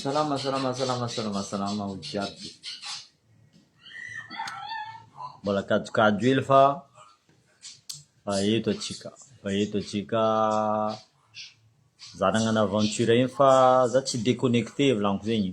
Salama salama salama salama salama ho jiaby. Mbola kajokajy hely fa fa eto atsika fa eto atsika za nagnano aventure iny fa za tsy déconnecté volaniko zegny.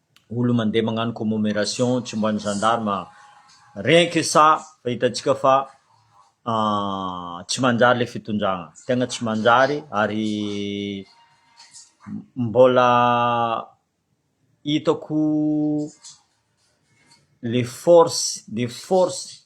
olo mandeha magnano commomeration tsy mba ny gendarme rien que ça fa hitantsika fa tsy manjary le fitondrana, tegna tsy manjary ary mbola hitako le force de force.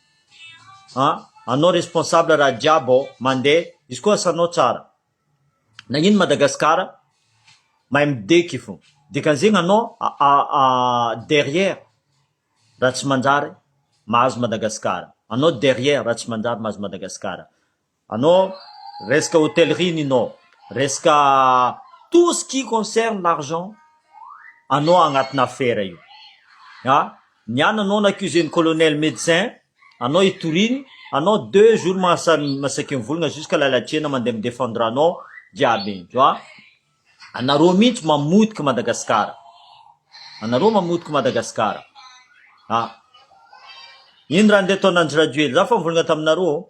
an, anao responsable raha jiaby ao mandeha izy koa asanao tsara nagnino Madagascar mahay mideky fo dikan'izegny anao derrière raha tsy manjary mahazo Madagascar anao derrière raha tsy manjary mahazo Madagascar Anao resaka hotellerie Nino, resaka tout ce qui concerne l'argent anao agnatina affaire io a! ny an anao n'accuser ny colonel medecin anao itoriny anao deux jours maha masaky mivolagna jusqu'à la latsena mandeha midefendre anao jiaby indro a! anareo mintsy mamotika Madagascar anareo mamotika Madagascar a! ino raha ndeha ataon'Andry Rajoely za fa mivolagna taminareo ô!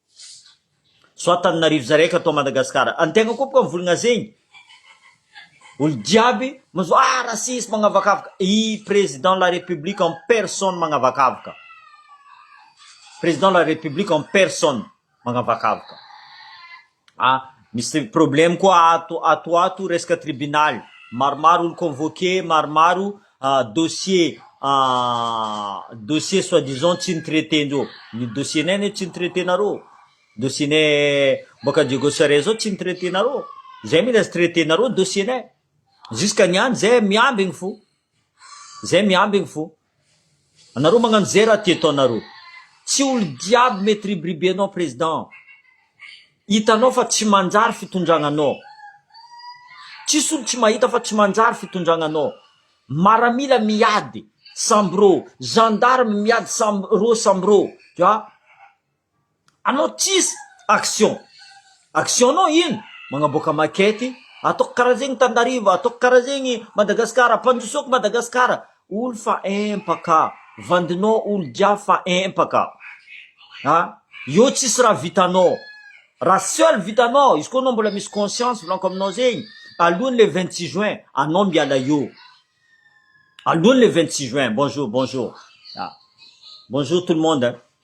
Soit Antananarivo zay raika atao Madagascar. Any tegna koa boka mivolagna zegny. Olo jiaby mazo ah raciste magnavakavaka. I Président la République en personne magnavakavaka. Président la République en personne magnavakavaka. Ah misy problème koa ato ato ato resaka tribunal. Maromaro olo convoqué, maromaro dossier dossier soit disant tsy ny traiter ndreo ny dossier nay anie tsy ny traiter nareo dossier ny boaka Diego Suarez zao tsy ny traiter nareo zay mila tsy traiter nareo ny dossier nay jusque ny any zay miambigny fo zay miambigny fo anareo magnano zay raha tia ataonareo tsy olo jiaby mitribiribe anao président Hitanao fa tsy manjary fitondragna nao. Tsisy olo tsy mahita fa tsy manjary fitondragna nao. Maramila miady samby rô, gendarme miady samby rô samby rô fa anao tsisy action. Action nao ino? Magnaboaka maquette, ataoko karaha zegny Tandariva, ataoko karaha zegny Madagascar, ampandrosoako Madagascar. Olo fa empaka, vandinao olo jiaby fa empaka a! Eo tsisy raha vitanao, raha seul vitanao, izy koa anao mbola misy conscience volako aminao zegny, alohany le vingt six juin anao miala eo, alohany le vingt six juin, bonjour bonjour, bonjour tout le monde.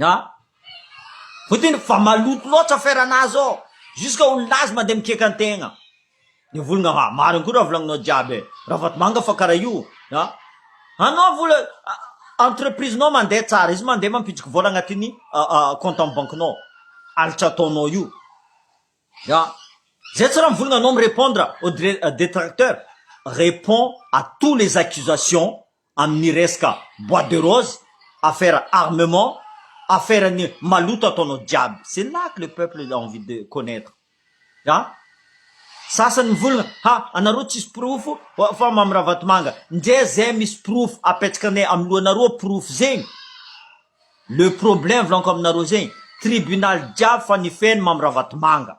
A! Putin efa maloto loatra affaire nazy ao, jusque olonazy mandeha mikiaka ny tegna, ny volagna ha marigny koa raha volagninao jiaby e, ravatomanga fa karaha io a, anao vola entreprise nao mandeha tsara, izy mandeha mampitsiky vola agnatin'ny compte am banky nao, alitra ataonao io a, zay tsy raha mivolagna anao mi repondre aux detracteurs, repond à tous les accusations. amin'ny resaka boite de rose, affaire armement, affaire ny maloto ataonao jiaby, c'est là que le peuple a envie de connaitre a! sasany mivolagna ha anareo tsisy porofo fa Mamy Ravatomanga, nge zay misy porofo apetsakanay amin'ny lohanareo porofo zegny, le problème volaniko aminareo zegny, tribunal jiaby fa ny feno Mamy Ravatomanga.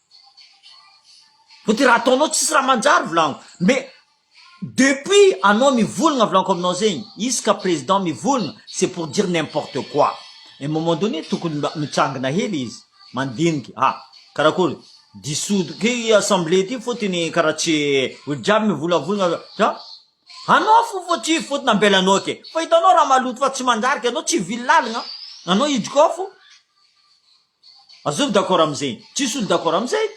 Vao de raha ataonao tsisy raha manjary volaniko mais depuis anao mivolagna volaniko aminao zegny izy ka président mivolagna c'est pour dire n'importe quoi un moment donné tokony mba mitsangana hely izy mandiniky ha karakory dissoudre ty assemblée ty fotony karaha tsy olo jiaby mivolavolagna za anao fo vao tsy fotony ambelanao ke fa hitanao raha maloto fa tsy manjary ke anao tsy vily lalagna anao hidiko ao fo. Azony d'accord amzegny tsisy olo d'accord amzay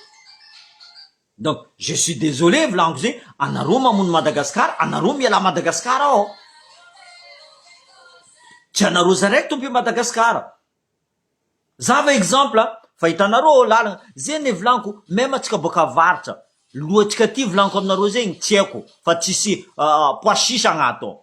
donc je suis désolé volagno zegny anareo mamono Madagascar anareo miala Madagascar ao tsy anareo zaraiky tompo i Madagascar za va exemple a fa hitanareo ô lalagna zegny e volagniko même atsika boaka avaratra lohantsika aty volagniko aminareo zegny tsy aiko fa tsisy pois chiche agnaty ao.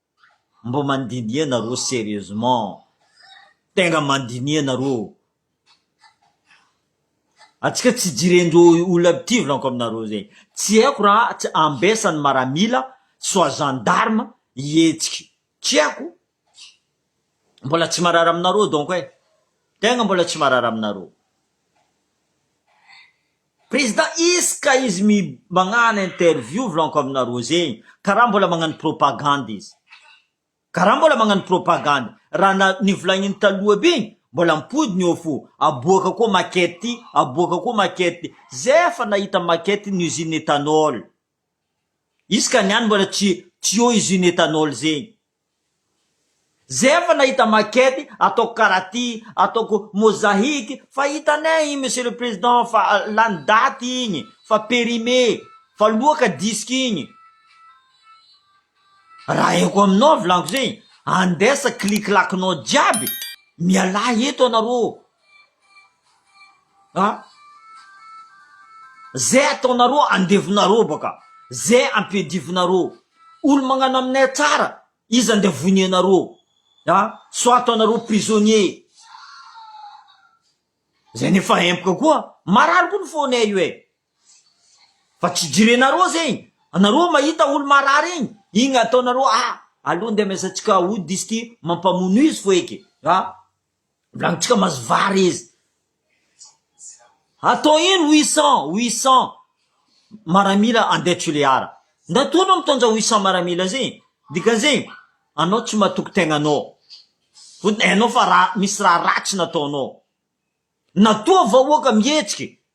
Mba mandinia nareo serieusement tegna mandinia nareo atsika tsy jirendreo olona mpitivlanko aminareo zay tsy haiko ra tsy ambesany maramila soit gendarme hihetsiky tsy haiko mbola tsy marary aminareo donc e tegna mbola tsy marary aminareo. Prezida izy ka izy mi magnano interview vlanko aminareo zegny ka raha mbola magnano propagande izy ka raha mbola magnano propagande raha na nivolagniny taloha be igny mbola ampodiny eo fo aboaka koa maquette ty aboaka koa maquette ty zay efa nahita maquette ny usine ethanol izy ka niany mbola tsy tsy eo usine ethanol zegny Zay efa nahita maquette ataoko karaha ty, ataoko mosahique fa hitanay igny monsieur le président fa lany daty igny, fa périmé, fa loa ka disque igny, raha eko aminao volaniko zay, andesa kiliklakinao jiaby, mialà eto anareo Zay ataonareo andevinareo baka zay ampiadivinareo olo magnano aminay tsara iza nde vonianareo a sao ataonareo prisonnier zay nefa empaka koa marary koa ny fonay io e fa tsy jirenareo zay anareo mahita olo marary igny igny ataonareo a aleo nde amezantsika ody izy ty mampamono izy foeke a. Volanintsika mahazo vary izy. Atao ino huit cent, huit cent maramila andeha Tulear. Ndato anao mitondra huit cent maramila zay. Dikan'izay anao tsy matoky tegnanao. Fotony hainao fa raha misy raha ratsy nataonao. Na toa vahoaka mihetsiky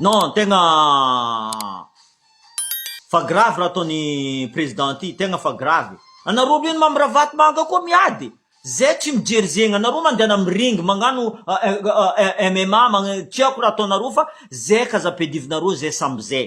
Non tegna fa grave raha ataony président ity tegna fa grave e! anareo reny Mamy Ravatomanga koa miady e! zay tsy mijery zegny anareo mandehana am ring magnano MMA tiako raha ataonareo fa zay ka aza ampiadivinareo zay samby zay.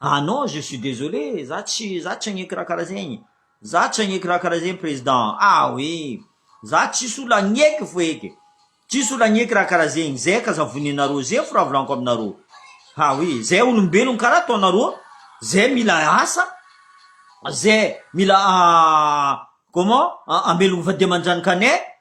Ah non je suis désolé za tsy za tsy hagneky raha karaha zegny za tsy hagneky raha karaha zegny président ah oui za tsisy olo hagneky fo eky tsisy olo hagneky raha karaha zegny zay ka za voninareo zay fo raha volaniko aminareo ah oui zay olombelogno karaha ataonareo zay mila asa zay mila comment amelogno vady aman-janakanay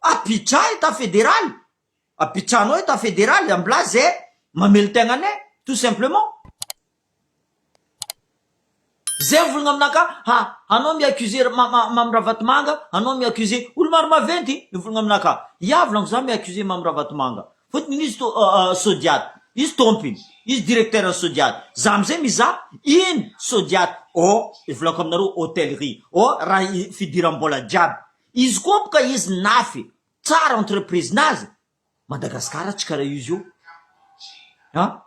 Abidjan état fédéral, Abidjan ao état fédéral, ambilà ze mamelon-tegna anay tout simplement. Ze mivolagna aminakà ha anao mi-accuser ma ma Mamy Ravatomanga, anao mi-accuser olo maro maventy mivolagna aminakà, ià volagno za mi-accuser Mamy Ravatomanga fotony izy to Sodiat, izy tompiny, izy directeur ny Sodiat, za amizay mizaha ino Sodiat ô, volako aminareo hôtellerie ô raha i fidiram-bola jiaby Izy koa apo ka izy nafy tsara entreprise nazy Madagascar tsy kara izy io a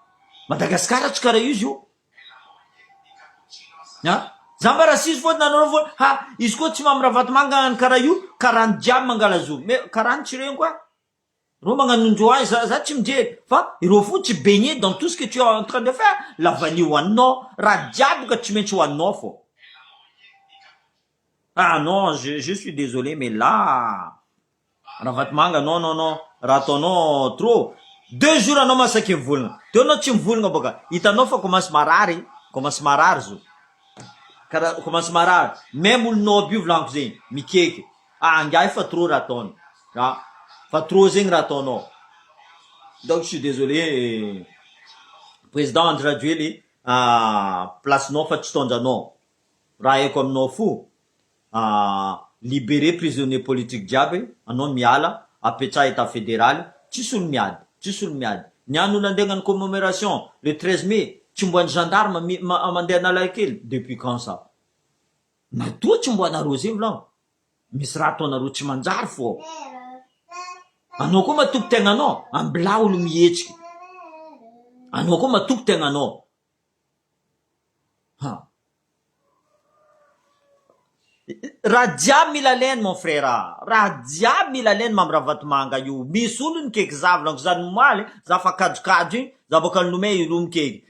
Madagascar tsy kara izy io a za mba rasisy fô nanao fô ha izy koa tsy mamy ravatomanga ny kara io kara ny jiaby mangalazo me kara ny tsy reniko a Reo magnanondro ahy za za tsy mijery fa ireo fo tsy baigne dans tout ce que tu as en train de faire la vanille ho aninao raha jiaby ka tsy maintsy ho aninao fô ah non je je suis désolé mais là Ravatomanga non non non raha ataonao trop deux jours anao masaky mivolagna teo anao tsy mivolagna bôka hitanao fa commence marary commence marary zao kara commence marary même olo nob io volagniko zegny mikeka Ah angahy fa trop raha ataony a! Fa trop zegny raha ataonao! Donc je suis désolé Président Andry Rajoely ah place nao fa tsy taondranao! Raha haiko aminao fo ah libéré prisonnier politique jiaby anao miala apetraha Etat Fédéraly tsisy olo miady tsisy olo miady! Ny any olo andeha agnano commemoration le treize mai tsy mbo any gendarme mi ma mandeha Analakely depuis quand ça? Nadio tsy mboana rose milao misy raha ataonareo tsy manjary fo ao anao koa matoky tegna anao ambilao olo mihetsiky anao koa matoky tegna anao ha raha jiaby mila alainy mon frère raha jiaby mila alainy mamy ravatomanga io misy olo ny keky zavilanko za nomaly za fa kajokajy iny za boka nilomay io olo mikeky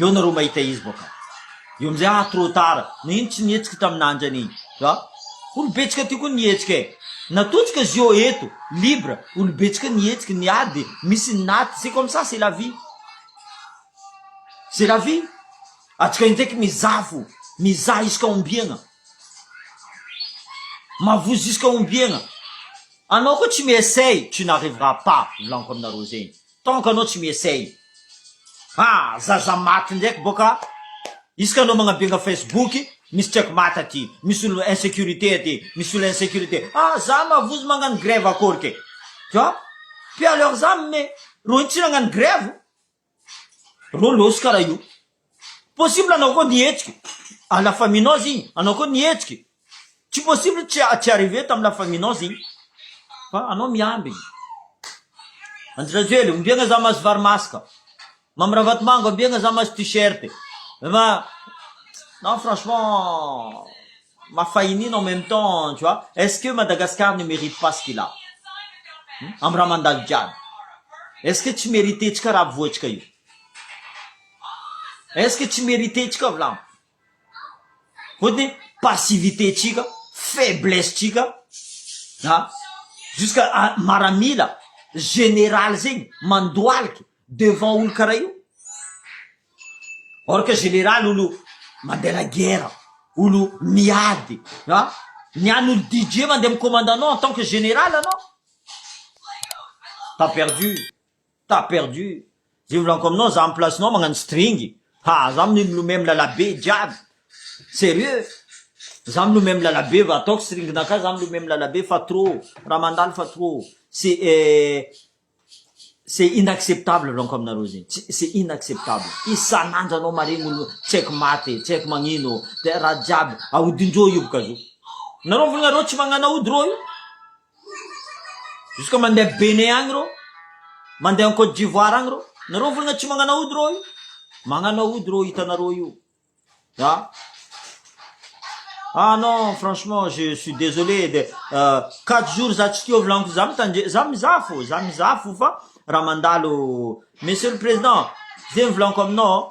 Eo nareo mahita izy baka eo amizay ah trop tard nagnino tsy nihetsika taminandry anie a olo betsaka ty koa nihetsika e natotsoka zio eto libre olo betsaka nihetsika ny ady misy ny naty c'est comme ça c'est la vie c'est la vie atsika indraiky mizaha fo mizaha iska ombiagna mavozo iska ombiagna anao koa tsy mi-essay tu n'arrivera pas volaniko aminareo zegny Tant que anao tsy mi-essaye. Ha! Zaza maty ndraiky bô ka! Isaka anao magnabenga Facebook, misy check mate aty, misy olo insecurite aty, misy olo insecurite. Ha! Za mavozo magnano grève akôry ke! Tu vois? Puis alors za me, rô ino tsy nagnano grève? Rô lôso karaha io. Possible anao koa nihetsika a la faminoise igny anao koa nihetsika e tsy possible tsy tsy arriver tam la faminoise igny fa anao miambigny Andry Rajoely ombiagna za mahazo vary masaka Mamy Ravatomango ambiagna za mahazo t-shirt ma non franchement mafahinina en même temps tu vois est-ce que Madagascar ne merite pas ce qu'il a am raha mandalo jiaby est-ce que tsy merite-tsika raha avoatsika io. Est-ce que tsy merite-tsika vilamo? Fotony passivité-tsika, faiblesse-tsika an! Jusqu'à maramila général zegny mandohalika devant olo karaha io. Or que général olo mandeha la guerre, olo miady an! Ny an'ny olo DJ mandeha mi-commande anao en tant que général anao, t'as perdu. T'as perdu Zay volaniko aminao za am place nao magnano string ha za mni milomay milala be jiaby serieux za milomay milala be va ataoko string na ka za milomay milala be fa trop raha mandalo fa trop c'est c'est inacceptable volaniko aminareo zegny tsy c'est inacceptable isan'andro anao maregny olo tsy haiko maty e tsy haiko magnino de raha jiaby aodin-drô io boka zo nareo volanareo tsy magnano aody rô io Jusque mandeha Bénin agny rô, mandeha Côte d'Ivoire agny rô, nareo mivolagna tsy magnano aody rô io, magnano aody rô hitanareo io a, ah non franchement je suis désolé de quatre jours za tsy tia volagniko za mitandre- za mizaha fô za mizaha fô fa raha mandalo, monsieur le président zegny volagniko aminao.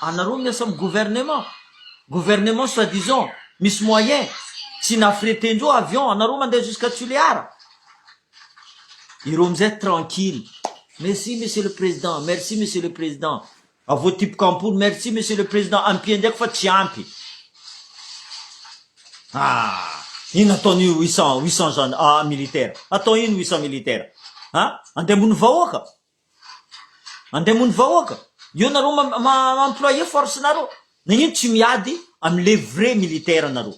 Anareo miasa am gouvernement, gouvernement soit disant misy moyen tsy na freter ndreo avion anareo mandeha jusqu'à Tulear. Ireo amizay tranquille. Merci monsieur le président, merci monsieur le président. Avoatipoka ampoly, merci monsieur le président, ampie ndraiky fa tsy ampy. Ah! Ino ataon'io huit cent huit cent gen ah militaire? Atao ino huit cent militaire? Ah? Andeha ambony vahoaka? Mandeha moa ny vahoaka. Io nareo ma-ma-employer force nareo. Nagnino tsy miady am le vrai militaire nareo.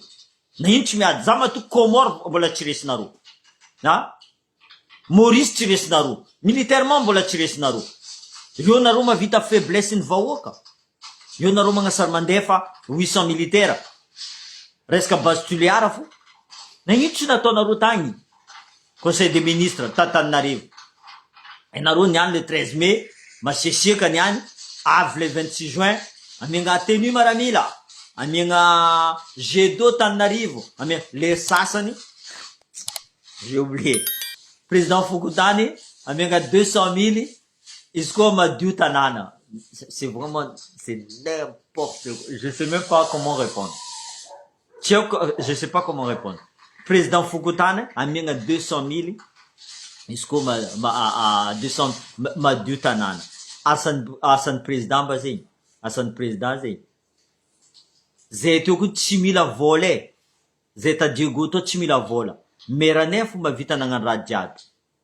Nagnino tsy miady. Za matoa Comores mbola tsy resinareo. Ha? Maurice tsy resinareo. Militairement mbola tsy resinareo. Reo nareo mahavita faiblesse ny vahoaka. Eo nareo magnasary mandefa huit cent militaire resaka base tulear fo na ino tsy nataonareo tagny conseil des ministres ta taninarivo enareo niany le treize mai masiasiaka niany avy le vingt six juin amiagna tenue maramila amiagna jet d'eau taninarivo amia le sasany j'ai oublier president fokontany amiagna deux cent mille Izy koa madio tanàna. C'est vraiment c'est n'importe quoi. Je sais même pas comment répondre. Tsy haiko je sais pas comment répondre. Président fokontany amiagna deux cent mille izy koa ma ma deux cent ma madio tanàna. Asan'ny asan'ny président mba zegny? Asan'ny président zegny? Zay teo koa tsy mila vôla e. Zay ta Diego tao tsy mila vôla. Maire-nay fô mavita nagnano raha jiaby.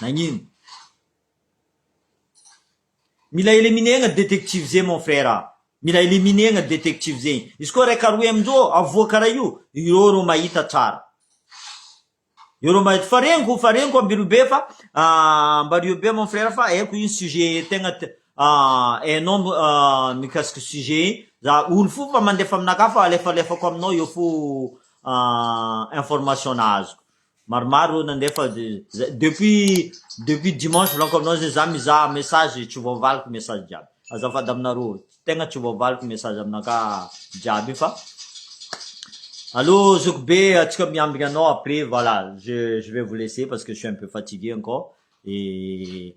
Nagnino? Mila eleminegna détective zay mon frère a! Mila eleminegna détective zay! Izy koa raika roe amin'izao avoaka karaha io, ireo rô mahita tsara. Eo rô mahita, fa reniko, fa reniko ambireo be fa ambario be mon frère fa haiko io sujet tegna hainao mikasiky sujet io, za olo fo fa mandefa aminakahy fa alefalefako aminao eo fo information-na azoko. Maromaro ireo nandefa zay depuis depuis dimanche volaniko aminao zay za mizaha message tsy voavaliko message jiaby azafady aminareo tegna tsy voavaliko message aminaka jiaby io fa allo zoky be atsika miambigna anao après voilà je je vais vous laisser parce que je suis un peu fatigué encore et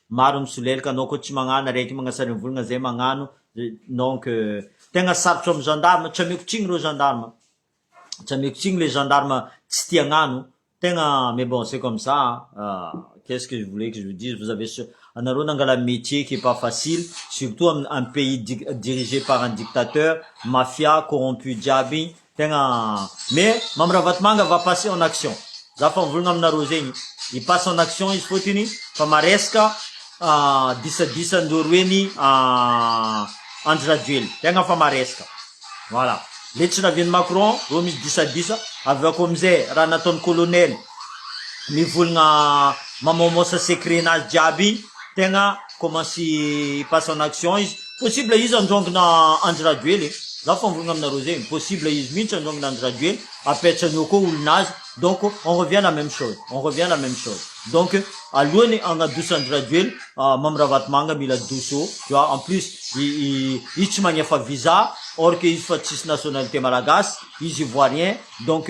Maro misolelka anao ko tsy magnano arety magna sarinvolagna zay magnano donc tegna sarotro am gendarme tsy ameko tsigny reo gendarme tsy ameko tsigny le gendarme tsy tia agnano tegna mais bon c'est comme ça qu'est ce que voulez que je vous dise vous avez ce anareo nangala metier qui est pas facile surtout am pays dirigé par un dictateur mafia corrompu jiaby igny Tegna me Mamy Ravatomanga va passer en action za fa mivolagna aminareo zegny i passe en action izy fôtiny fa maresaka disadisan-dreo roeny Andry Rajoely tegna fa maresaka voilà le tsy navian'i Macron reo misy disadisa avy eo koa amizay raha nataon'i colonel mivolagna mamaomaosa secret nazy jiaby igny tegna commence passe en action izy, possible izy androangana Andry Rajoely e, za efa nivolagna aminareo zegny possible izy mintsy androangana Andry Rajoely apetrany eo koa olonazy donc on revient la même chose, on revient la même chose, donc alohany hagnadosa Andry Rajoely Mamy Ravatomanga mila doso tu vois, en plus izy tsy magnefa visa or que izy efa tsisy nationalité malagasy, izy ivoirien donc.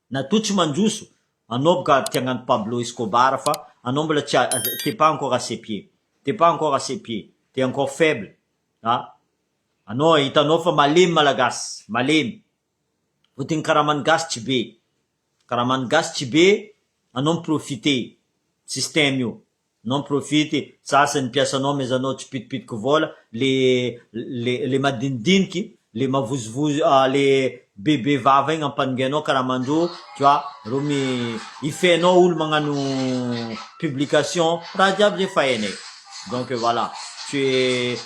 Na toa tsy manjoso anao bka ary tia agnano Pablo Escobar fa anao mbola tsy t'es pas encore assez pied t'es pas encore assez pied t'es encore faible a anao hitanao fa malemy malagasy malemy fotony ny karaman'ny gasy tsy be karaman'ny gasy tsy be anao mi profiter système io Non profite sasy ny mpiasanao mais anao tsy pitipitiko vola le le le madinidiniky le mavozovozo ah le bebe vava igny ampanongianao karaha mandoa tu vois ro mi ifehinao olo magnano publication raha jiaby zay fa hainay donc voilà tu es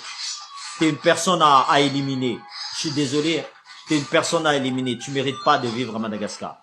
tu es une personne à éliminer je suis désolé hein tu es une personne à éliminer tu mérite pas de vivre à Madagascar.